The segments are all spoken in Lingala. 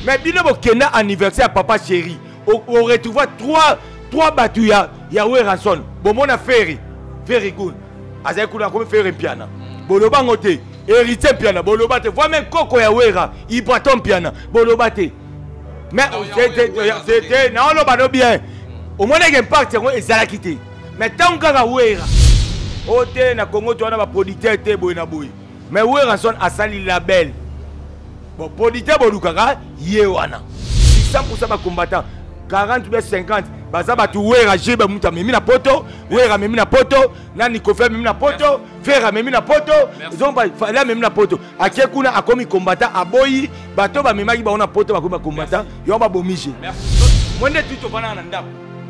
mais bino bokenda anniversaire ya papa chéri oretrouva trois trois bato ya, ya werason bomona ferry ferry gun azali kuna akomi ferry mpiana boloba yango te héritier mpiana boloba te voi meme koko ya wera ibraton mpiana boloba te mais te naoloba no bien omonaki impact yango ezalaki te mais ntango kaka wera o te na congo to wana baproducteur te boye na boye mais werrason asali label bon producteur bolukaka ye wana 100 bacombattant 40 bia 50 baza bato wera jebe moto amemi na poto wera amemi na poto na nikofe amemi na poto fere amemi na poto zomba fale amemi na poto ake kuna akomi combattant aboyi bato bamemaki bango na poto bakomi bacombattant yango babomi je mwe nde tuti ofandaka na ndako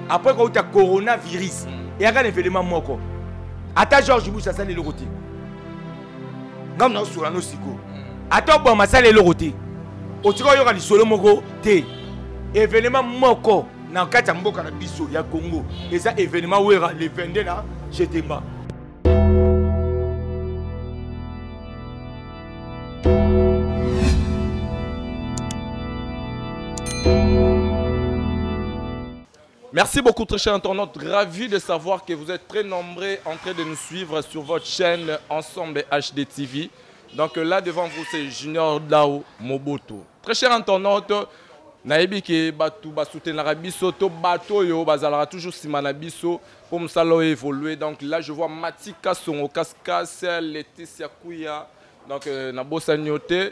apres kouta coronavirus hmm. eyaka na evelema moko ata george bush asali eloko te ngai na osola no sikoyo ata obwa masala eloko te otika oyoka lisolo moko te evenema moko na kati ya mboka na biso ya congo eza evenema wera le 22 na jetemba Merci beaucoup très cher internaute, ravi de savoir que vous êtes très nombreux en train de nous suivre sur votre chaîne Ensemble HD TV. Donc là devant vous c'est Junior Dao Moboto. Très cher internaute, nayebi ke bato basoutenaka biso to bato oyo bazalaka toujours nsima na biso mpo mosala oyo évolue donc là je vois matika songo kaskas leticia kuya donc euh, nabosani yo te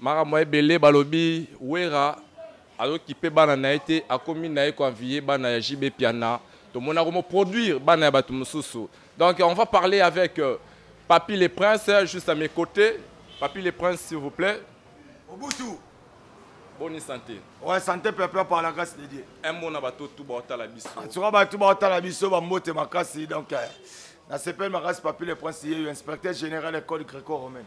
Makambo ebele balobi Werra azokipe bana na ye te, akomi na ye koenviye bana ya JB Piana, tomona komoproduire bana ya bato mosusu. Donc on va parler avec euh, Papi le Prince, juste à mes côtés. Papi le Prince, s'il vous plaît. Obusu Bonne santé. Ouais, santé peuple par la grâce de Dieu. Un mot na bato tout baotala biso. En tout cas, bato baotala biso ba mbote makasi donc euh, na sepel makasi Papi le Prince ye inspecteur général école gréco-romaine.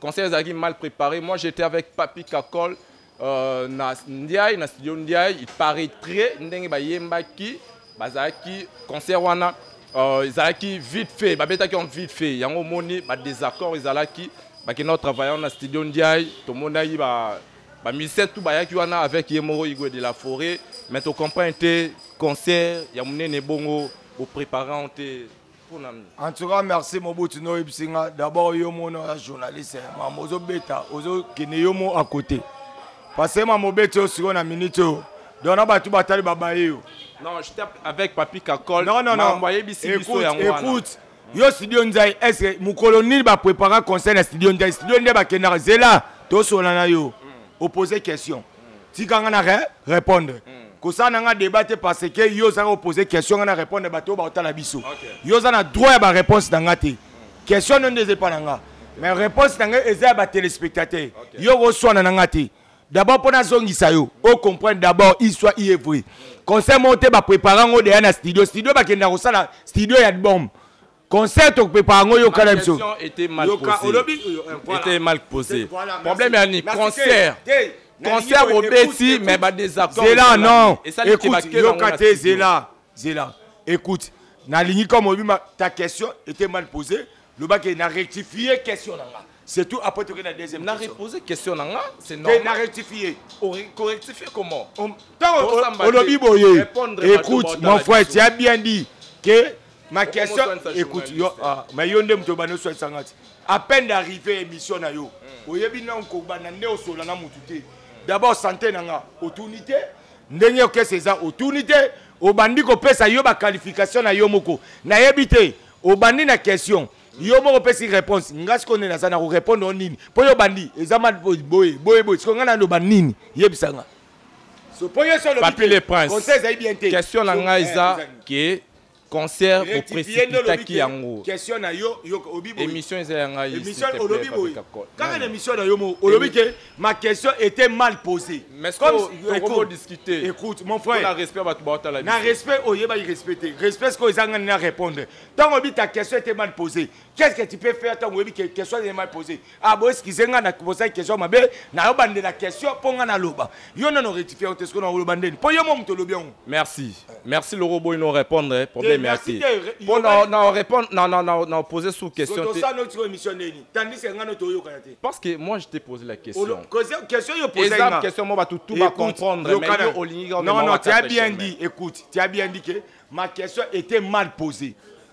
Concert ezalaki mal préparé. Moi j'étais avec Papi Kakol euh, na Ndiaye na studio Ndiaye, il paraîtrait ndenge bayembaki bazalaki concert wana euh, ezalaki vite fait babetaki en vite fait yango omoni badésaccord ezalaki bakenda kotravaille na studio ndiaye tomonaki ba bamusicien tout bayaki wana avec ye moko igwe de la forêt mais tocomprendre te concert ya monene bongo boprépare yango te en tout cas merci mobutu noyebisi nga d'abord yo mona ya journaliste eh, mama ozobeta ozokende yo mo à côté parce que mama obeti yo sikoyo na minute oyo donc na bato batali babaye yo non je tape avec papi kakol non non non ayebisi biso yango wana écoute yo studio nzai est ce que mokolo nini baprépara conseil na studio nzai studio nde bakendaka zela tosolana yo mm. opose question tika nga na re répondre mm. kosala na nga débat te parce que yo ozanga opose question nga na répondre bato oyo baotala biso okay. yo oza na droit ya baréponse na nga te mm. question nde nde eza epa na nga mais réponse na nga eza ya batelespectateur okay. yo okoswana na nga te d'abord mpo nazongisa yo ocomprendre d'abord histoire iye vrai mm. conseil moko te baprépare yango deya na studio studio bakendaka kosala studio ya bombe concert tokopepa yango yoka na biso était euh, mal posé problème ya ni concert concert bobeti mais badésaccord zela non écoute yoka te zela zela écoute nalingi comme oyebi ta question était mal posée lobaki na rectifie question na nga c'est tout après toke na deuxième na repose question na nga c'est normal na rectifier correctifier comment olobi boye écoute mon frère tu as bien dit que ma question écoute yo ah, mais yo nde moto obanda oswanisa nga ti à peine d'arriver émission na yo hmm. oyebi nano kobanda nde osola na motu te hmm. d'abord santé na nga otuni te ndenge okesa eza otuni te obandi kopesa yo baqualification na yo moko nayebi te obandi na question yo moko opesi réponse nga sikoyo nde naza na korépondre o nini mpo yo obandi eza ma boye boye boye sikoyo nga naloba nini yebisa nga so mpo yo so olobipapile prince conseil ezali bien te question na ngai eh, eza ke concert oprecipitaki yango question na yo émission eza ya ngai émission olobi boye kaka na émission na yo mo olobi ke ma question était mal posée mais comme écoute discuter écoute mon frère na respect bato ba tala na respect oyeba respecter respect ce que ezanga na répondre tant obi ta question était mal posée qu'est-ce que tu peux faire ntango oyebi ke question nde mai pose ah boeskize ngai na bosaki question mabe nayo bandela question mpo ngai naloba yo nano rectifie yango te soki naoloba ndeni mpo yo mo moto olobi yango merci merci loko oboyi no répondre eh, problème ya te mpo na répondre na pose sous question te osano tiko émission ndeni tandis que ngai no toyokana te parce que moi je t'ai posé la question question yo pose eza question mo bato tout ba comprendre mais yo olingi non non tu as bien dit écoute tu as bien dit que ma question était mal posée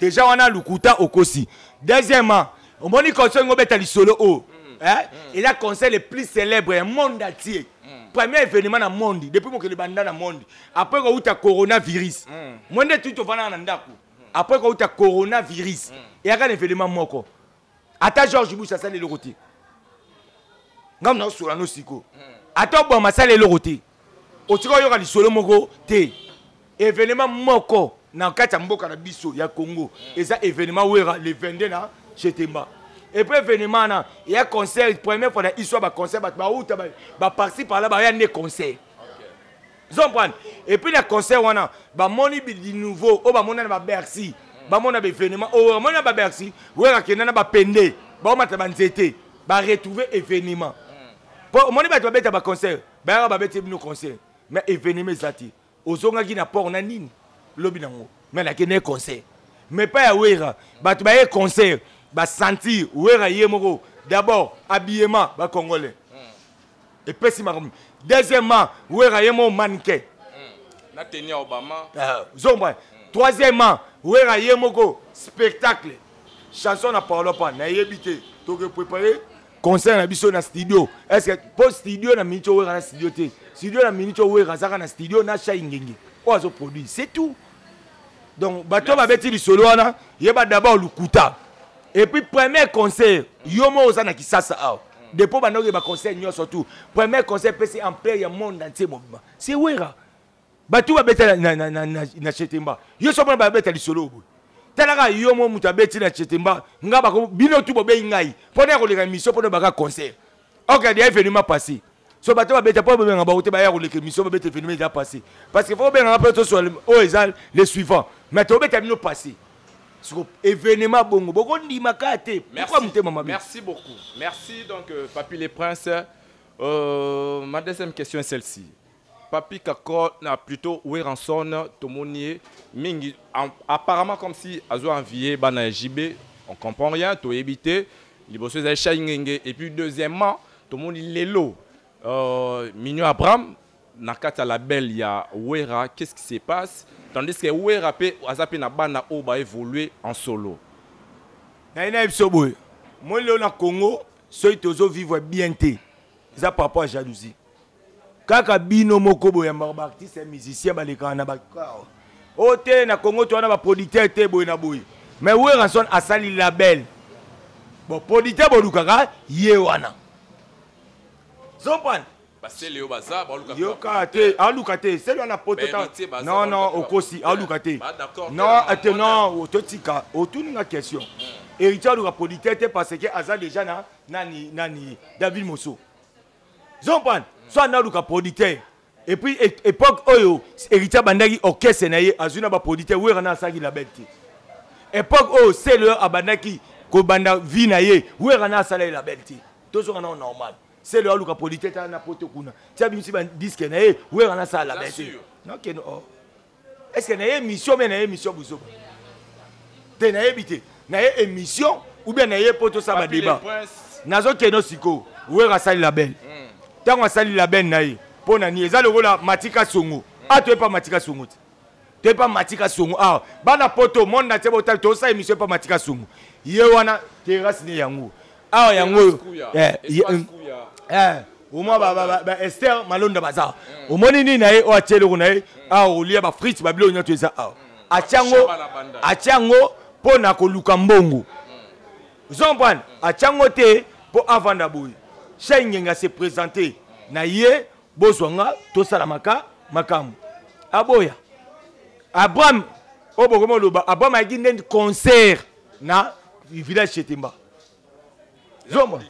deja wana lukuta okosi deuxièmement omoni concert ngo beta lisolo oyo oh. mm. eh? mm. eza concert le plus célèbre ya monde entier mm. premier événement na monde depuis mokili banda na monde après kouta coronavirus mm. mwe nde tuti ofandaka na ndako mm. après kouta coronavirus mm. eyaka na événement moko ata george bush asali eloko te ngambo na osola no siko ata obwama asali eloko te otika oyoka lisolo moko te evenema moko na kati ya mboka na biso ya congo eza evenema wera le 22 na chetemba epuis evenema wana eya concert première fois na histoire baconcert bato bauta baparti parla baya nde concert zomprane epuis na concert wana bamoni du nouveau oyo bamona na babercy bamona baevenement oyo bamoni na babercy oyo akenda na bapende baomata banzete baretrouve événement mpo hmm. omoni bato babeta baconcert bayaka babeti bino concert mais événement eza te ozongaki na port na nini lobi nango mais nakende concert mais pa ya wera bato baye concert basentir wera ye moko d'abord habillement bacongolais epesi makambo deuxièmement wera ye mo manike hmm. na teni ya obama ah, zomba hmm. troisièmement wera ye moko spectacle chanson na paolo pa nayebi te toke prépare concert na biso na studio est ce que mpo studio na miniti owera na studio te studio na miniti owera azaka na studio na shai ngenge oyo azoproduit c'est tout donc bato oyo babeti lisolo wana yeba d'abord lokuta epuis premier concert yo moko oza na kisasa awa depuis obanda oyeba conseil nyonso tout premier conseil pesi empire ya monde entier mobima c'est wera bato babeta na chetemba yo so mona babeta lisolo boye talaka yo mo moto abeti na chetemba nga bako bino tu bobeyi ngai mpona ya koleka mission mpona baka concert ok adi evenima passé so bato babeta mpo bobenga bango te baya koleka mission babeta evenima eza passé parce que fo obengaka mpe toswa oyo eza le suivant mais tobeta bino passé siko événement bongo bokondima ka te pourquoi motema mabe merci beaucoup merci donc euh, papi le prince euh, ma deuxième question est celle-ci papi kakol na plutôt weranson tomoni ye mingi apparemment comme si azo envie bana ya jb on comprend rien toyebi te liboso ezali shai ngenge et puis deuxièmement tomoni lelo euh, mignon abraham na kati ya label ya Wera qu'est-ce qui se passe tandis que Wera pe aza pe na bana oyo ba évoluer en solo na ina biso boye moi leo na Congo soki tozo vivre bien te eza par rapport à jalousie kaka bino moko boyambaka baartiste ya musicien balekaka na bacor o oh, te na congo to wana baproducteur te boye na boye mais werrason asali label bon producteur bolukaka ye wana zompane basele yo baza baluka yoka te aluka te sele wana poto ta non non okosi aluka te non te non totika otuni nga question hmm. héritier aluka politesse te parce que aza déjà na nani nani david moso zompane hmm. so analuka politesse et puis époque oyo héritier abandaki orchestre na ye azwi na bapolitesse wera na asalaki label te époque oyo sele abandaki kobanda vie na ye wera na asala ye label te tozonga nao normal selo aluka politete na poto kuna ti abimisi badiske na ye wera nasala labe te nakeno o oh. estce na ye émission me na ye émission bozoba te nayebi te na ye émission ou bien na ye mpo tosala badeba nazokeno sikoyo wera asali label ntango hmm. asali label na ye mpo na nini eza lokola matika songo hmm. atoyepa matika songo te te pa matika songo awa bana poto monde na tie botali tosala émission pa matika songo ye wana terrasse ne yango awa yango oyo omwa baester malonda baza mm. omoni nini na ye oyo atie eloko na ye mm. awa olia bafrite babiloko nyonso eza awa mm. atia yango mpo na koluka mbongo zompane atia yango te mpo avanda boye shai ngenga se présente na ye bozwa nga tosala maka makambo aboya abraham oyo bokomi oloba abraham ayaki nde concert na village chetemba zomba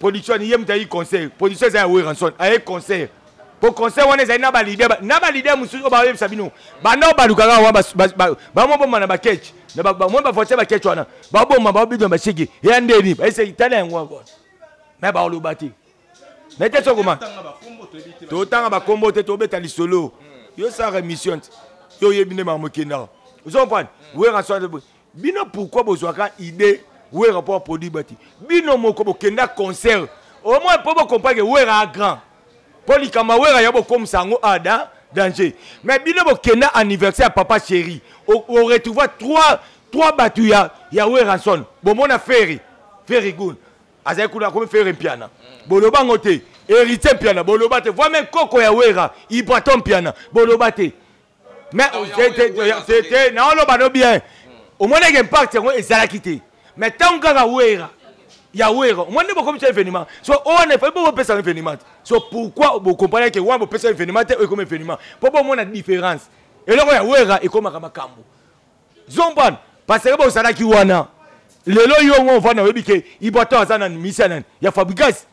production ani ye moto ayi concert production eza ya weranson aye concert po concert wana ezali na balide na balide mosusu oyo bayebisa bino banda oyo balukaka wana bamo bomba na bakech moi bavoiture bakech wana babomba babidona bashege eya ndeni baeseki tala yango wana me baoloba te naye te sokoma totanga bakombo te tobeta lisolo yo osalaka émission ti yo oyebi nde makambo ekendaka ozo comprendre wera soa bino pourquoi bozwaka idée wera mpo aproduit bati bino moko bokenda concert omoi mpo bokomprendre wera a grand mpo likambo ya wera ya bokomisa yango ada danger mais bino bokenda anniversaire ya papa chéri oretrouva trois bato ya, ya weranson bomona ferry ferry gun azali kuna akomi fere mpiana boloba yango te héritier mpiana boloba te voi meme koko ya wera ibraton mpiana boloba te mais te naoloba no bien omoneke impact yango ezalaki te mais ntango kaka wera ya wera omoni nde bokomisa événement so owana efai bo bopesa yango événement te so pourquoi bokomprane ke wana bopesa événement te oyo ekoma événement mpo bomona différence eloko ya wera ekomaka makambo zombana paseke bozalaki wana lelo yo ngo ovanda oyebi ke iboato aza nani misia nani ya fabrigas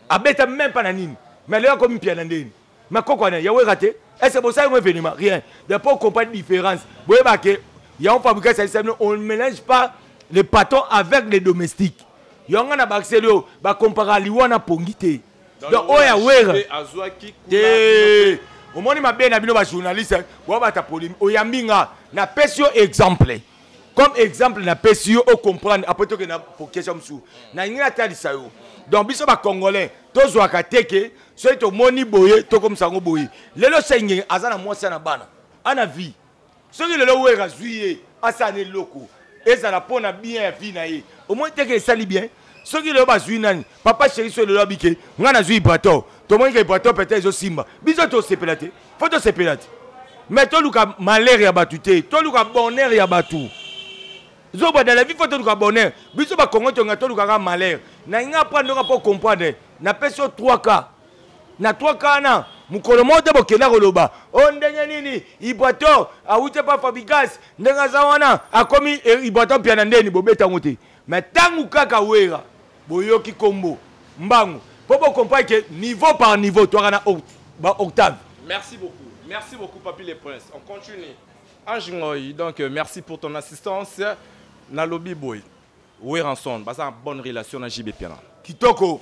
abeta meme mpa na nini mais lelo akomi mpia na ndeni makoko wana yaweka te ese bosali ngo evenema rien de po comprendre différence boyeba ke yango fabrigas alisa bino on mélange pas le patron avec les domestiques yango nga na bakiseli oyo bakompaka liwa na pongi te donc oyo ya wera te omoni mabe na bino bajournaliste boabata polimi oyambi nga napesi yo exemple comme exemple napesi yo ocomprendre apres toke na pokesha mosusu nalingi natalisa yo donc biso bacongolais tozwaka te ke soki tomoni boye tokomisa yango boye lelo sengenge aza na mwasi ya na bana ana vie soki lelo wera azwi ye asala na eloko ezala mpo na bien ya vie na ye omoni teke esali bien soki lelo bazwi nani papa sheri soki lelo abike ngai nazwi ibrator tomoni ke ibrator pete ezosimba biso tosepela te fo tosepela te mais toluka malheur ya bato te toluka bonheur ya bato zoba dans la vie fo toluka bonheur biso bakongo tonga tolukaka malheur nalingi aprandoka mpo comprendre napesi yo 3 cas na trois kana mokolo moko te bokenda koloba o oh, ndenge nini iboator awuti epa fabigas ndenge aza wana akomi eh, iboator mpia na ndeni bobeta yango te me ntango kaka wera boyoki nkombo mbangu mpo bokomprane ke niveau par niveau twaka na baoctave merci beaucoup merci beaucoup papi le prince on continue ange ngoi donc euh, merci pour ton assistance nalobi boye weranson baza bonne relation na jb piana kitoko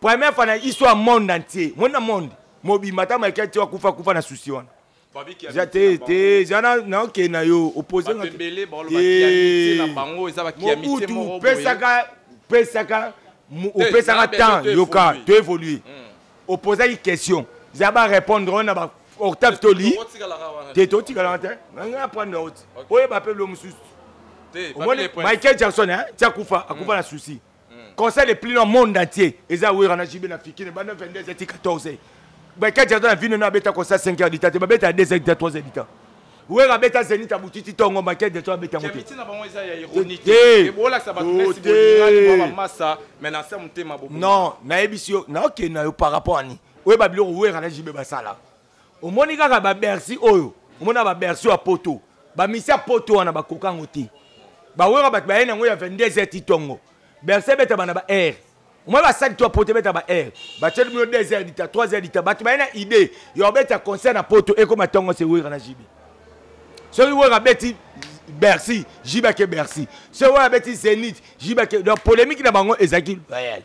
Première fois na histoire monde entier. Monde na monde. Mobimba ta Michael Tio akufa kufa na souci wana. Eza te te eza na na oke na yo opposé na. Batembele ba loba kiamite na bango eza ba kiamite moko. Pesaka pesaka opesaka temps yoka to évoluer. Hmm. Opposaki question. Za ba répondre na ba octave toli. Te to tikalaka te. Nga prendre route. Oyeba pe lo mususu. Michael Jackson hein, tia kufa akufa hmm. na souci. hmm. concert le plus long monde entier eza wera na jibe na fikine banda 22 eti 14 bakati aza na vino na abeta concert 5 heures du temps te babeta ya 2 heures du temps 3 heures du temps wera abeta zenit abutiti tongo make de to abeta yango non nayebisi yo naokende na yo par rapport ani oyeba biloko wera na jibe basala omoni kaka ba bercy oyo omona ba bercy ya poto bamisi ya poto wana bakoka yango te bawera bato baye na yango ya 22 heure ti tongo bercy ebeta bana ba aire omoi basali to ya poto ebeta ba aire batieli bino 2 heure dita 3 heure dita bato baye na idée ya kobeta concert na poto ekoma tongo se wera na jibi soki wera abeti bercy jibake bercy soki wera abeti zenith jibake donc polémique na bango ezalaki loyale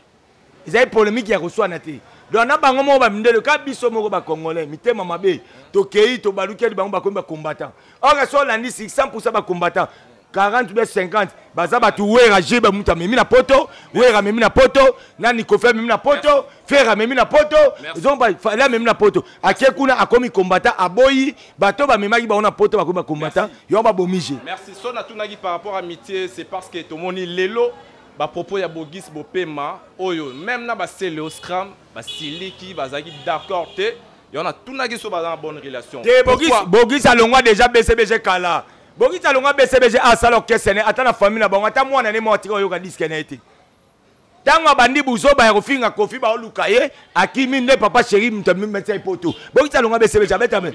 ezali polemike ya koswana te donc na bango moko bamindele ka biso moko bacongolais mitema mabe tokei tobalukeli bango bakomi bacombattant or esi olandi 600 pourcent bacombattant 40 bia 50 baza bato wera jebe moto amemi na poto wera amemi na poto nani kofi amemi na poto fere amemi na poto fale amemi na poto ake kuna akomi kombata aboyi bato bamemaki bango na poto bakomi bakombata yango babomi je merci so natunaki par rapport ya mitie c'est parce que tomoni lelo Ba propos ya Bogis Bopema oyo meme na ba Celeo Scram ba siliki bazaki d'accord te. Yo na tunaki so baza na bonne relation. Te Bogis Bogis alongwa déjà BCBG kala. Bogis alongwa BCBG asala orchestre ne ata na famille na bango ata mwana ne mwa tika oyoka disque na ete. Tango abandi buzoba ya kofinga Kofi ba oluka ye akimi nde papa chéri mutu amimisa ipoto. Bogis alongwa BCBG abeta me.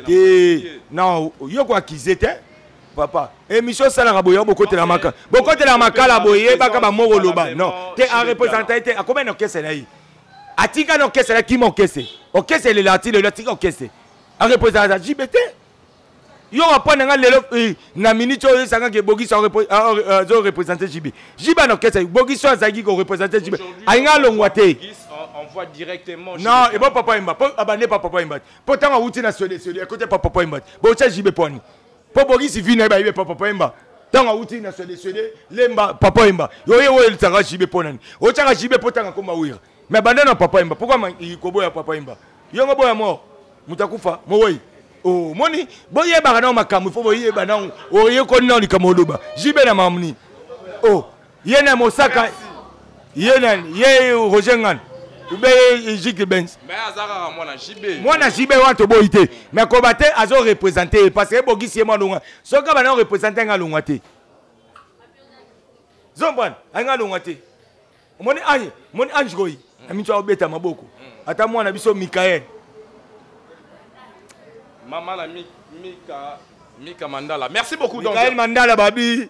Te. Non, yo ko accuser te. papa emission esalaka boye bokotela makala bokotela makala boye yebaka bamoko loba non te arepresenta ye te akoma na orkestre na ye atika na orkestre akima orkestre orkestre elela ati lelo atika orkestre arepresenta jibe te yo wapona nga lelo eh, na minute oyo esanga ke bogiso azo represente jibe jibe na orkestre bogiso azalaki korepresente jibe alinga alongwa te envoie directement. Non, et bon papa Imba, abandé par papa Imba. Pourtant, on a outil national, c'est côté par papa Imba. Bon, ça, j'y vais mpo bokisi vi na ye bayebi epa papa yemba ntango awuti na swede swede lemba papa yemba yoye oyo elisaka jibe mpo nani otyaka jibe mpo ntanga koma wira me banda na papa yemba pourkua koboya papa yemba yongo boya mort moto akufa mowei omoni oh, boyebaka nao makambo ifo boyeba nao oyekoni nao likambo oloba jibe na mamni o oh. ye na mosaka ye na ye roger ngana ube ye jike benz mwana jb wana toboyi te mais koba te azo represente ye parce que ebogisi ye mwana longa soki abana orepresente anga longwa te zombwana anga longwa te omoni ange omoni ange koyi na minso akobeta maboko mm. ata mwana biso mikael mama na mika mika mandala merci beaucoup mikael mandala babi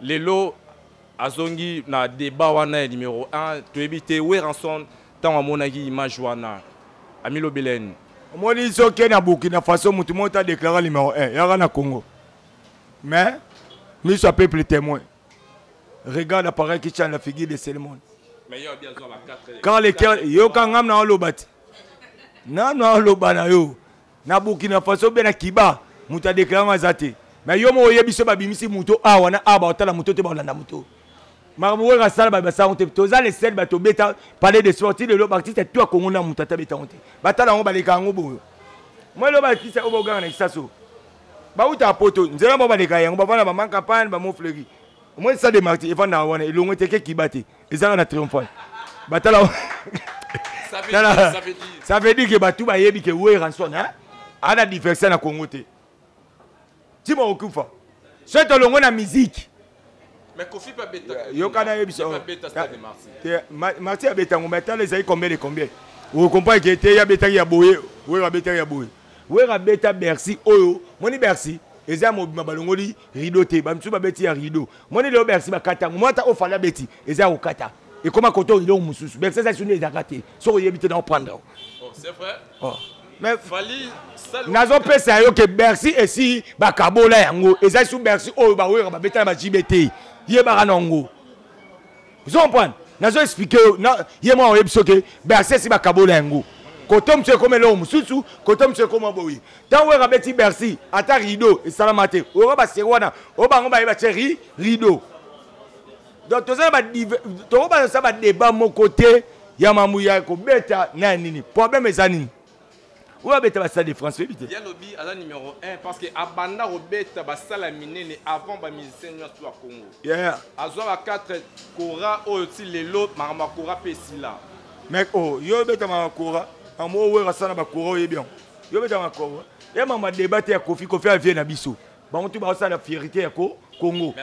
Lelo azongi na debat wana ya numero 1 toyebi te Werrason ntango amonaki image wana amilobeleni omoni soki na burkina faso motu moko ta déclara numero 1 yaka na congo mais miso ya peuple témoin regarde appareil qui change la figure de selmon car le cœur yoka ngam na oloba te nanu aloba na yo Na Burkina Faso bien na Kiba moto a déclarant aza te. Mais yo moko oyebi so babimisi moto awa na awa bakotala moto te bakolanda moto. Makambo weka sala ba basango te. Toza le seul bato beta palais de sport ti lelo artiste tout ya Congo na moto ata beta te. Batala yango baleka yango boyo. Moi loba artiste oyo boganga na Kisaso. Bauta poto nzela mo baleka yango bavana ba manka pan ba mo fleury. Moi ça de marti evanda wana elongo te ke Kiba te. ezanga na triomphal batala ça veut dire que bato bayebi ke weranson ana diverse na congo te ntima okufa soki tolongo na miziki yoka nayebisa marti abeta yango mai tala ezali combien de combien okomprendre ke te abetaki ya boye oyo abetaki ya boye wera abeta bercy oyo moni bercy eza mobima balongoli rido te bamisusu babeti ya rido moni lelo bercy bakata yango mwata oyo fali abeti eza ya kokata ekoma koto rido mosusu bercy eza suni ezaka te soki oyebi te na oprendre yango oh, c'est vrai oh. mais fali nazopesa yo ke bercy esi bakabola yango eza su bercy oyo baoyoka babetana bajibe te yebaka na yango ozo comprendre nazo explike yo ye mwa oyebi soki bercesi bakabola yango koto mosusu ekoma eloko mosusu koto mosusu ekoma boye ntango oyo abeti bercy ata rideau esalama te oyoka baseri wana oyo bango baye batye ri rideau donc toza na tokobana sa badeba moko te ya mambo ya kobeta na ya nini problème eza nini oyo abeta basala de france oyebi te ye alobi aza numero 1 parce que abanda kobeta basala minene avant bamusicien nyonso ya congo yeah. azwa ba 4 cora oyo ti lelo makambo ya cora mpe esila mek o oh, yo obeta makambo ya cora makambo oyo wero asala na bakora oyebi yango yo obeta makambo ya cora ye makambo ya deba te ya kofi kofi avie na biso bango tu basala fierité ya ko congo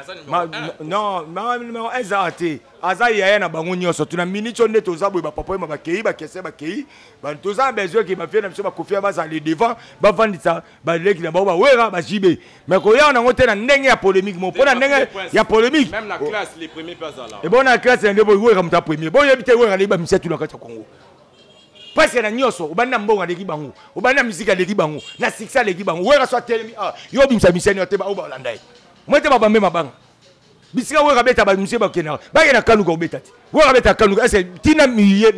ezala te aza yaya na bango nyonso tuna minitio nde toza boye bapapa oyema bakei bakese bakei toza na besoin ke bafie na biso bakofia bazali devant bavandisa baleki na bango bawera bajibe mai koyaka nango te na ndenge ya polémique mo mpo na ndenge ya polémique ebona na classe na nde boye wera moto ya premier boyebi te wera nde bamisia tuna kati ya congo pasi na nyonso obandi na mbongo aleki bango obandi na miziki aleki bango na succès aleki bango wera so atelemi awa ah, yo obimisa misani yo te baoyo balanda ye moi te babambe mabanga bisika wera abeta bamusie bakenda bakenda na kaluka obeta te wera abeta kaluka ese tina miye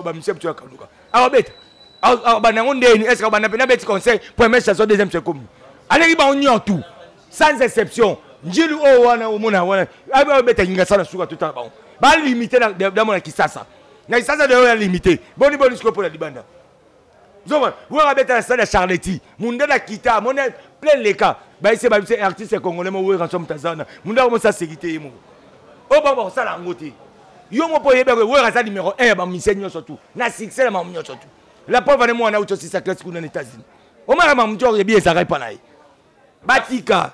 bamusie biso ya kaluka akobeta abanda yango ndeni eske abanda mpe nabeti conseil première chanson deuxième secomi aleki bango nyon tout sans exception njili oyo wana omona wana abeta kingasana suka totala bango balimite damona kisasa na isanza na yo ya limite boni boni sikoyo mpo na libanda zoma wera abeta na stade ya charleti mundele akita amoni plein leka bayise babise eh, artiste congolais mo wera so moto aza wana mundele akomosi aseki te ye moko oyo bango bakosala yango te yo mo mpo oyebi wera aza numero 1 ya bamusicien nyonso tu na succès na mamu nyonso tu la pauvre ne mwana auti osisa classe kuna na états-unis omaka mamu ti oyebi ezalaka epa na ye batika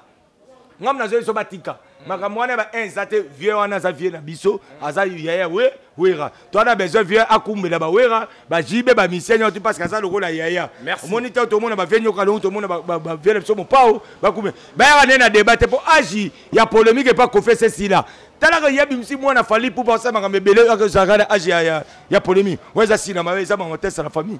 ngam nazo biso batika makambo wana ba eza te vieux wana aza vieux na biso aza yaya we wera to ana besoin vieux akumbela ba wera ba jibe ba misenya otu parce que aza lokola yaya omoni te tomona ba vieux nyoka longo tomona ba vieux na biso mopao bakume bayaka nde na debat te mpo age ya polémique epa kofese sila talaka ye abimisi mwana fali pupa osala makambo ebele akozalaka na age ya polémique oyo eza sila mabe eza bango tesa na famille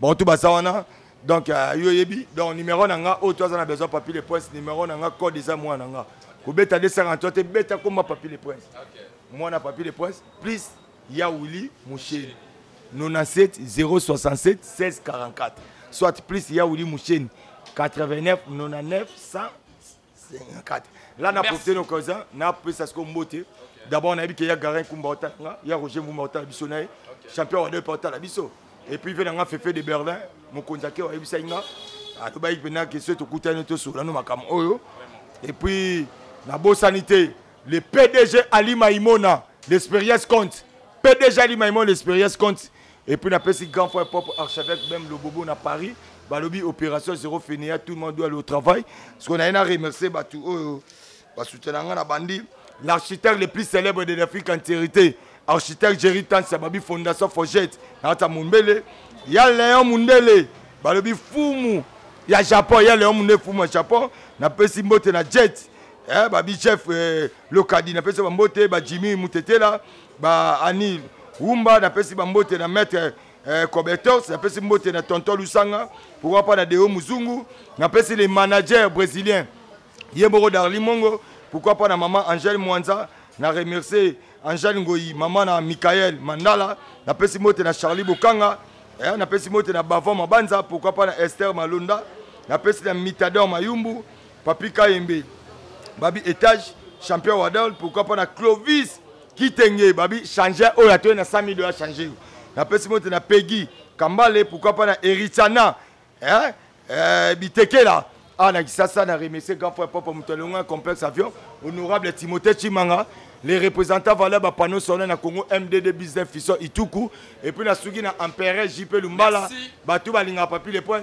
bon tout baza wana donc euh, yo oyebi donc numéro na nga oyo to aza na besoin papi le prince numéro na nga code eza mwana na nga kobeta 243 te beta koma papi le prince mwana papi le prince plus ya wili musheni 97 067 1644 soit plus ya wili musheni 89 99 100 kati la na profite na occasion na pesa siko mbote d'abord nayebi ke ya garin kumba otala nga ya roger mbumba otala biso na ye champion wa depa otala biso et puis ve na nga fefe de berlin mokonzi ake wayebisaki nga alobaki mpena ke soki tokutani tosola no makambo oyo et puis nabosani te le pdg ali maimona l'expérience compte pdg ali maimona l'expérience compte Et puis na pesi grand frère propre archevêque même Lobobo na Paris, balobi opération zéro fainéant, tout le monde doit aller au travail. Ce qu'on a eu à remercier batu oyo ba soutena nga na bandi, l'architecte le plus célèbre de l'Afrique en vérité, architecte Jerry Tansia babi fondation Forgette, na ta Mumbele, ya Léon Mundele, balobi fumu ya Japon, ya Léon Mundele fumu ya Japon, na pesi mbote na jet. Eh, babi chef eh, lokadi na pesi ba mbote ba Jimmy Mutetela ba anil wumba napesi bambote na maître eh, cobertos napesi mbote na tonton lusanga pourquoi pas na deo muzungu napesi les managers brésiliens ye moko darli mongo pourquoi pas na maman angèle mwanza na remercier angèle ngoyi mama na michael mandala napesi mbote na charlie bokanga eh, napesi mbote na bavon mabanza pourquoi pas na esther malonda napesi na mitador mayumbu Papi Kayembe, babi etage, champion Wadol, pourquoi pas na Clovis Kitenge, babi changer oyo atoye na 100 000 dollars changer. Na pesi mote na Peggy Kambale, pourquoi pas na Erichana, hein? Euh, Bitekela. Ah, na Kisasa, na remercier grand frère Papa Moutalonga, complexe avion, honorable Timothée Chimanga, les représentants valaient ba panneau solaire na Congo MDD business Fisson Ituku et puis na suki na empereur JP Lumbala batu balinga papi les points